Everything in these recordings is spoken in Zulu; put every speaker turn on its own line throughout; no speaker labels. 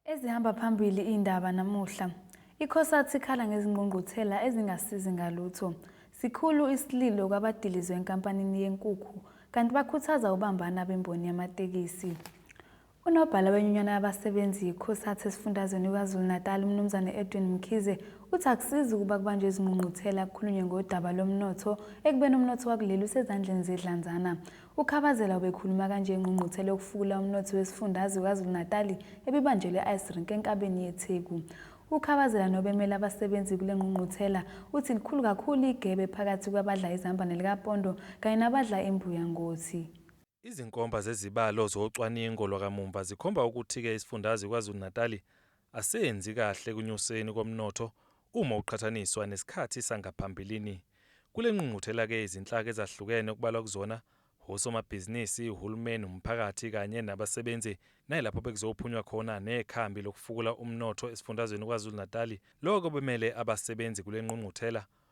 Ezihamba phambili indaba namuhla. ICosat ikhala ngezingqungquthela ezingasizi ngalutho. Sikhulu isililo kwabadilizwe enkampanini yenkukhu kanti bakhuthaza ubambana bemboni yamatekisi. Unobhala wenyunyana yabasebenzi yiCosat esifundazweni KwaZulu-Natal uMnumzane Edwin Mkhize uthi akusizi ukuba kubanjwe izingqungquthela kukhulunywe ngodaba lomnotho ekubeni umnotho wakuleli usezandleni zedlanzana. UKhabazela ubekhuluma kanje engqungquthela yokufukula umnotho wesifundazwe KwaZulu-Natali ebibanjelwe e-Ice Rink enkabeni yeTheku. UKhabazela nobemele abasebenzi kule ngqungquthela uthi likhulu kakhulu igebe phakathi kwabadla izamba nelikapondo kanye nabadla imbuya ngothi. Izinkomba
zezibalo zocwaningo lwakamumva zikhomba ukuthi-ke isifundazwe KwaZulu-Natali asenzi kahle ekunyuseni komnotho uma uqhathaniswa nesikhathi sangaphambilini. Kule ngqungquthela-ke izinhlaka ezahlukene okubalwa kuzona wosomabhizinisi, uhulumeni, umphakathi kanye nabasebenzi nayilapho bekuzophunywa khona nekhambi lokufukula umnotho esifundazweni KwaZulu-Natali. Lokho bemele abasebenzi kule ngqungquthela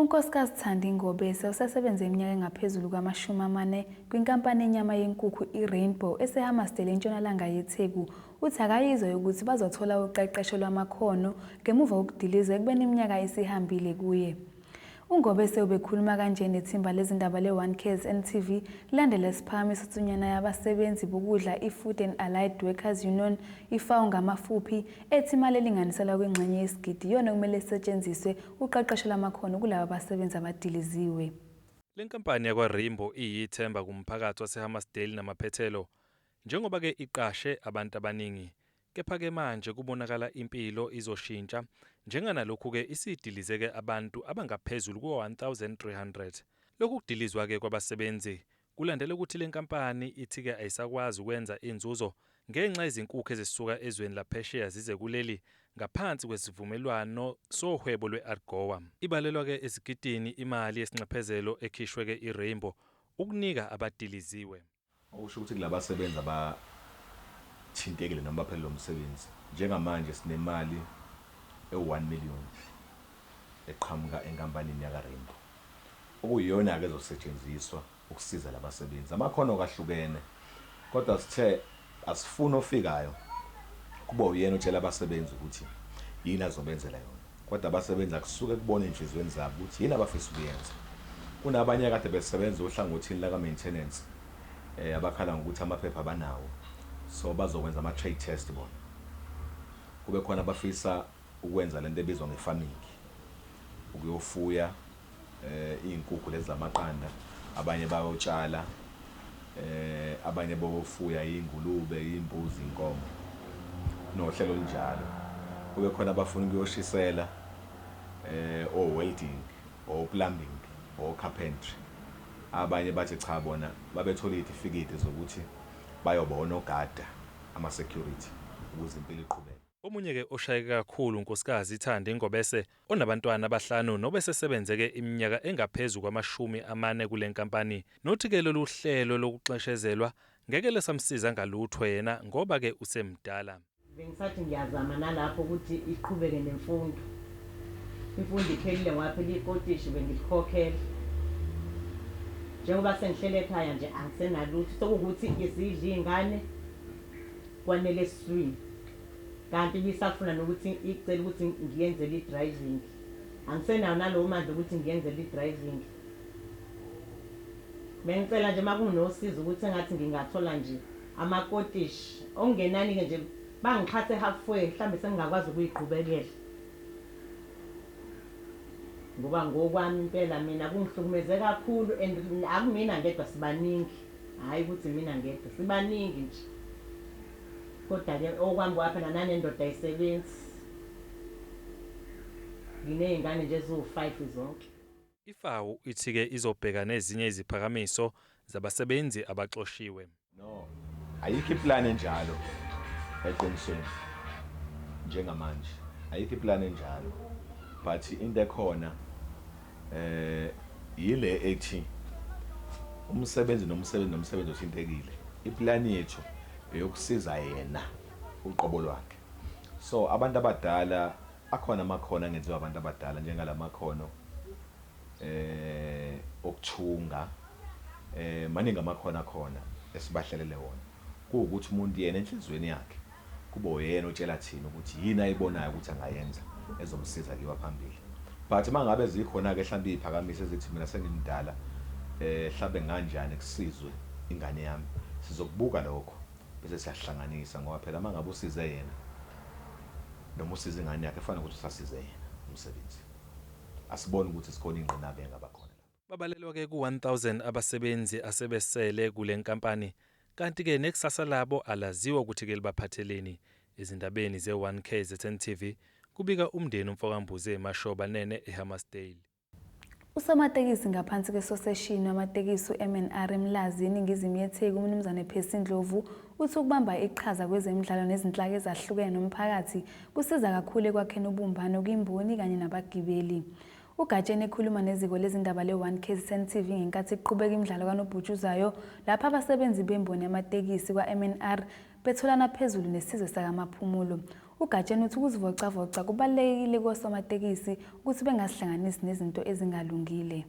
UNkosikazi
Thandi Ngobese osesebenze iminyaka engaphezulu kwamashumi amane kwinkampani yenyama yenkukhu iRainbow eseHammarsdale entshonalanga yeTheku uthi akayizwa yokuthi bazothola uqeqesho lwamakhono ngemuva kokudilizwa ekubeni iminyaka isihambile kuye. UNgobese ubekhuluma kanje nethimba lezindaba le-One Cares NTV kulandela isiphakamiso tsunyana yabasebenzi bokudla i-Food and Allied Workers Union, iFAW ngamafuphi, ethi imali elinganiselwa kwingxenye yesigidi iyona okumele isetshenziswe ukuqeqeshela amakhono kulaba basebenzi abadiliziwe. Le nkampani
yakwa-Rainbow iyithemba kumphakathi waseHammarsdale namaphethelo njengoba ke iqashe abantu abaningi kepha ke manje kubonakala impilo izoshintsha njenga nalokhu ke isidilize ke abantu abangaphezulu kuka-1300. Lokhu kudilizwa ke kwabasebenzi Kulandela ukuthi le nkampani ithi-ke ayisakwazi ukwenza inzuzo ngenxa yezinkukhu ezisuka ezweni laphesheya zize kuleli ngaphansi kwesivumelwano sohwebo lwe-AGOA. Ibalelwa-ke ezigidini imali yesinxephezelo ekhishwe-ke i-Rainbow ukunika abadiliziwe. Okusho ukuthi
kulabasebenzi abathintekile noma abaphelelwa umsebenzi, njengamanje sinemali ewu-one million eqhamuka enkampanini yaka-Rainbow. okuyiyona-ke ezosetshenziswa ukusiza la basebenzi. Amakhono-ke ahlukene kodwa sithe asifuni ofikayo kube uyena otshela abasebenzi ukuthi yini azobenzela yona kodwa abasebenzi akusuke kubona ezinhliziyweni zabo ukuthi yini abafisa ukuyenza. Kunabanye akade besebenza ohlangothini laka-maintenance abakhala ngokuthi amaphepha abanawo so bazokwenza ama-trade test bona. Kube khona abafisa Ukwenza lento ebizwa nge farming ukuyofuya iy'nkukhu lezi zamaqanda abanye bayotshala abanye bofuya iy'ngulube, iy'mbuzi, iy'nkomo kunohlelo olunjalo. Kube khona abafuna ukuyoshisela o-welding, o-plumbing, o-carpentry abanye bathi cha bona babethole iy'tifiketi zokuthi bayoba onogada ama security ukuze impilo iqhubeke. Omunye ke oshayeke
kakhulu uNkosikazi Thandi Ngobese onabantwana abahlanu nobesesebenze ke iminyaka engaphezu kwamashumi amane kule nkampani nothi ke lolu hlelo lokuxeshezelwa ngeke lesamsiza ngalutho yena ngoba ke usemdala. Bengisathi
ngiyazama nalapho ukuthi iqhubeke nemfundo. Imfundo iphelile ngwaphela ikotishi bengilikhokhela. Njengoba sengihleli ekhaya nje angisenalutho sekuwukuthi isidla izingane. Kwanele swi. Kanti ibisafuna nokuthi icele ukuthi ngiyenzele idriving. Angisenawo nalowo mandla okuthi ngiyenzele idriving. Bengicela nje makunosizo ukuthi engathi ngingathola nje amakotish okungenani-ke nje bangixhase half way mhlambe sengingakwazi ukuyiqhubekela. Ngoba ngokwami impela mina kungihlukumeze kakhulu and akumina ngedwa sibaningi. Hhayi ukuthi imina ngedwa sibaningi nje kodwa ke okwami kwapha na nanendoda ayisebenzi ngineyngane nje eziwu five zonke. IFAWU
ithi ke izobheka nezinye iziphakamiso zabasebenzi abaxoshiwe. No,
ayikho iplan enjalo eqinisweni njengamanje ayikho iplan enjalo but into ekhona. Eh, yile ethi umsebenzi nomsebenzi nomsebenzi othintekile. Iplani yethu eyokusiza yena uqobo lwakhe. So abantu abadala akhona amakhono angenziwa abantu abadala njengalamakhono eh okuthunga eh maningi amakhono akhona esibahlelele wona. kuwukuthi umuntu yena enhliziyweni yakhe kube uyena otshela thina ukuthi yini ayibonayo ukuthi angayenza ezomsiza kiwa phambili but mangabe zikhona ke hlampe iziphakamiso ezithi mina sengimdala eh hlampe nganjani kusizwe ingane yami sizokubuka lokho bese siyasihlanganisa ngoba phela mangabe usize yena noma usiza ingane yakhe kufana ukuthi usasize yena umsebenzi asiboni ukuthi sikhona ingqinamba engaba khona Babalelwa ke ku-1000
abasebenzi asebesele kule nkampani kanti ke nekusasa labo alaziwa ukuthi ke libaphatheleni ezindabeni ze-one kzn TV kubika umndeni umfokaMbuze Mashoba Nene eHammarsdale.
Usomatekisi ngaphansi kwesoseshini wamatekisi uMNR eMlazi eningizimu yeTheku uMnumzane Percy Ndlovu uthi ukubamba iqhaza kwezemidlalo nezinhlaka ezahlukene nomphakathi kusiza kakhulu ekwakheni ubumbano kwimboni kanye nabagibeli. UGatsheni ekhuluma neziko lezindaba le-One KZN TV ngenkathi kuqhubeka imidlalo kanobhutshuzayo lapho abasebenzi bemboni yamatekisi kwa-MNR betholana phezulu nesizwe sakamaphumulo. UGatsheni uthi ukuzivocavoca kubalulekile kosomatekisi ukuthi bengazihlanganisi nezinto ezingalungile.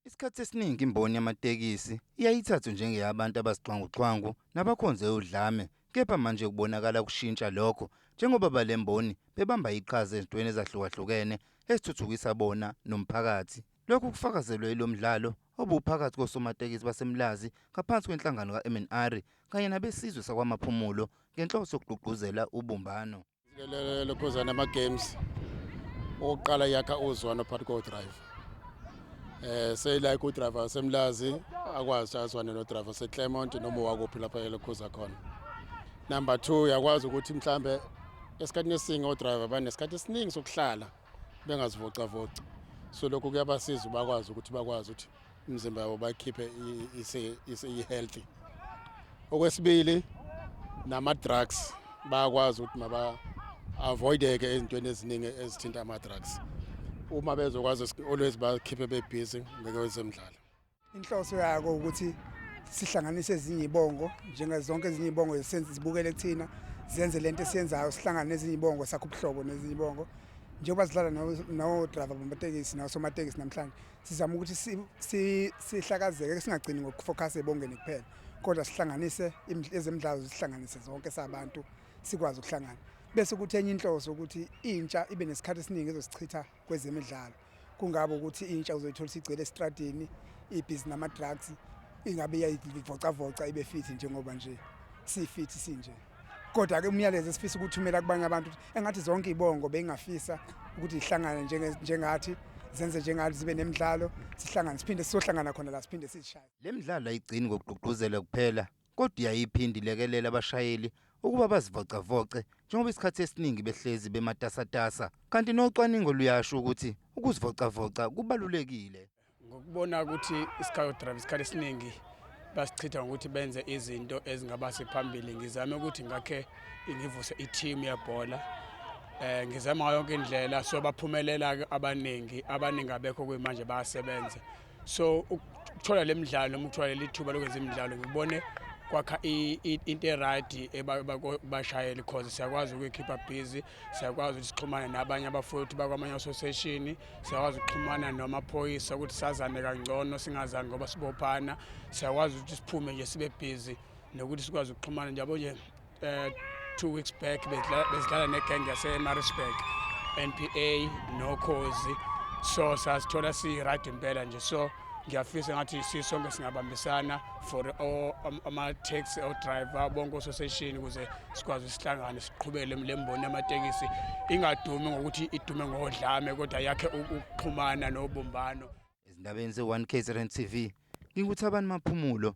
Isikhathi
esiningi imboni yamatekisi iyayithathu njengeyabantu abasixwanguxwangu nabakhonze udlame kepha manje kubonakala kushintsha lokho njengoba balemboni bebamba iqhaza ezintweni ezahlukahlukene ezithuthukisa bona nomphakathi. Lokhu kufakazelwe ilo mdlalo obuwuphakathi kosomatekisi baseMlazi ngaphansi kwenhlangano kaMNRI kanye nabesizwe sakwaMaphumulo ngenhloso yokugqugquzela ubumbano. Lokhuzana
ama-games okokuqala yakha uzwano phakathi kodriver um eh, seyilike udriver wasemlazi akwazi azwane nodriver waseclermont noma wakuphi lapha elokhuza khona number two uyakwazi ukuthi mhlawumbe esikhathini esiningi odriver banesikhathi esiningi sokuhlala bengazivocavoci so lokhu kuyabasiza bakwazi ukuthi bakwazi ukuthi imizimba yabo bayikhiphe i-healthy okwesibili nama-drugs bayakwazi ukuthi maba-avoideke ezintweni eziningi ezithinta ama-drugs uma bezokwazi always bakhiphe bebhizi ngekwezemidlalo Inhloso
yako ukuthi sihlanganise ezinye ibongo njenga zonke ezinye ibongo esenze zibukele kuthina zenze lento esiyenzayo sihlangane nezinye ibongo sakho ubuhlobo nezinye ibongo njengoba sidlala no driver bamatekisi no somatekisi namhlanje sizama ukuthi sihlakazeke singagcini ngokufocus ebongeni kuphela kodwa sihlanganise ezemidlalo zihlanganise zonke sabantu sikwazi ukuhlangana bese ukuthi enye inhloso ukuthi intsha ibe nesikhathi esiningi ezosichitha kwezemidlalo kungabe ukuthi intsha uzoyithola isigcwele esitradini ibhizi nama-drugs ingabe iyayivocavoca ibe fithi njengoba nje sifithi sinje kodwa-ke umyalezo esifisa ukuthumela kubanye abantu engathi zonke iy'bongo beyingafisa ukuthi zihlangane njengathi zenze njengathi zibe nemidlalo sihlangane siphinde sizohlangana khona la siphinde sizishaye le midlalo ayigcini
ngokugqugquzela kuphela kodwa iyayiphinde ilekelele abashayeli ukuba bazivocavoce njengoba isikhathi esiningi behlezi bematasatasa kanti nocwaningo luyasho ukuthi ukuzivocavoca kubalulekile ngokubona
ukuthi isikhathi drive isikhathi esiningi basichitha ngokuthi benze izinto ezingaba sephambili ngizame ukuthi ngakhe ngivuse i-team yebhola eh ngizama yonke indlela so baphumelela abaningi abaningi abekho kuyimanje bayasebenza so ukuthola le midlalo noma ukuthola leli thuba lokwenza imidlalo ngibone kwakha into erayidi ebashayeli cause siyakwazi ukuyikhipha busy siyakwazi ukuthi sixhumane nabanye abafowethu bakwamanye association siyakwazi ukuxhumana namaphoyisa ukuthi sazane kangcono singazani ngoba sibophana siyakwazi ukuthi siphume nje sibe busy nokuthi sikwazi ukuxhumana njabo nje Uh, two weeks back bezidlala negenge yasemaritzburg npa nokhozi so sasithola si-right impela nje so ngiyafisa ngathi sisonke singabambisana for um, ama-taxi odriver bonke ososeshini ukuze sikwazi sihlangane siqhubele le mboni yamatekisi ingadumi ngokuthi idume ngodlame kodwa yakhe ukuxhumana nobumbano ezindabeni ze-one
kzrn tv nginguthabani maphumulo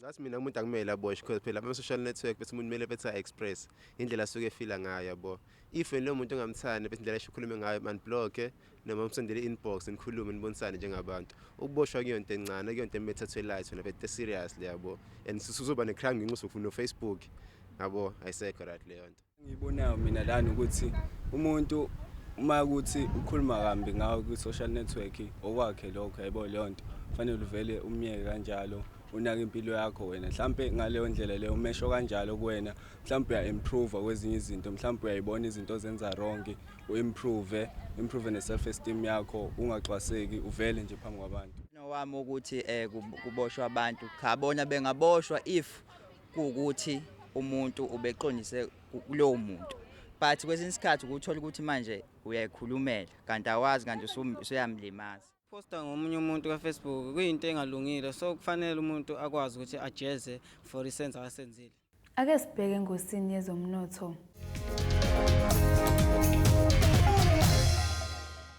ngathi mina umuntu
akumele aboshwe because phela ama-social network bese umuntu kumele bethi a-express indlela asuke efila ngayo yabo if wena lowo muntu ongamthandi bese indlela esho ukhulume ngayo manibloke noma umsendele inbox nikhulume nibonisane njengabantu ukuboshwa kuyo nto encane kuyo nto emethathwe light wena bethe seriously yabo and susuzoba ne-crime ngenxa usufuna ufacebook yabo ayisekho right leyo nto Ngibonayo mina lana
ukuthi umuntu uma ukuthi ukhuluma kambi ngawo kwi-social network okwakhe lokho yebo leyo nto fanele uvele umyeke kanjalo unake impilo yakho wena mhlampe ngaleyo ndlela leyo umesho kanjalo kuwena mhlampe uya-improve kwezinye izinto mhlampe uyayibona izinto ozenza wrong u-improve improve ne-self esteem yakho ungaxwaseki uvele nje phambi kwabantu nowami ukuthi
um kuboshwa abantu cha bona bengaboshwa if kuwukuthi umuntu ubeqondise kulowo muntu but kwesinye isikhathi ukuthola ukuthi manje uyayikhulumela kanti awazi kanti usuyamlimaza posta ngomunye
umuntu kafacebook kuyinto engalungile so kufanele umuntu akwazi ukuthi ajeze for isenzo asenzile ake sibheke
engosini yezomnotho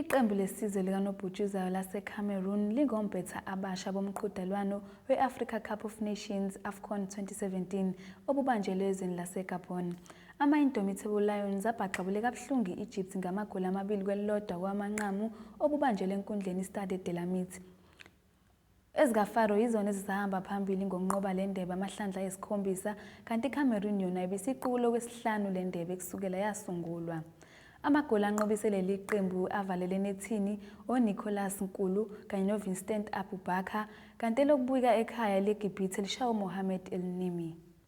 Iqembu lesizwe likanobhutshuzayo laseCameroon lingompetha abasha bomqhudelwano we-Africa Cup of Nations, AFCON 2017, obubanjelwe ezweni laseGabon. Ama-Indomitable Lions abhaxabule kabuhlungu i-Egypt ngamagoli amabili kwelilodwa kowamanqamu obubanjelwe enkundleni iStade de la Mite. EzikaFaro yizona ezisahamba phambili ngokunqoba le ndebe amahlandla ayisikhombisa kanti iCameroon yona ibisiqukule okwesihlanu le ndebe kusukela yasungulwa. Amagoli anqobise leli qembu avalele enethini oNicholas Nkulu kanye noVincent Abubakar kanti elokubuyika ekhaya eleGibhithe lishawe uMohamed El-Nimi.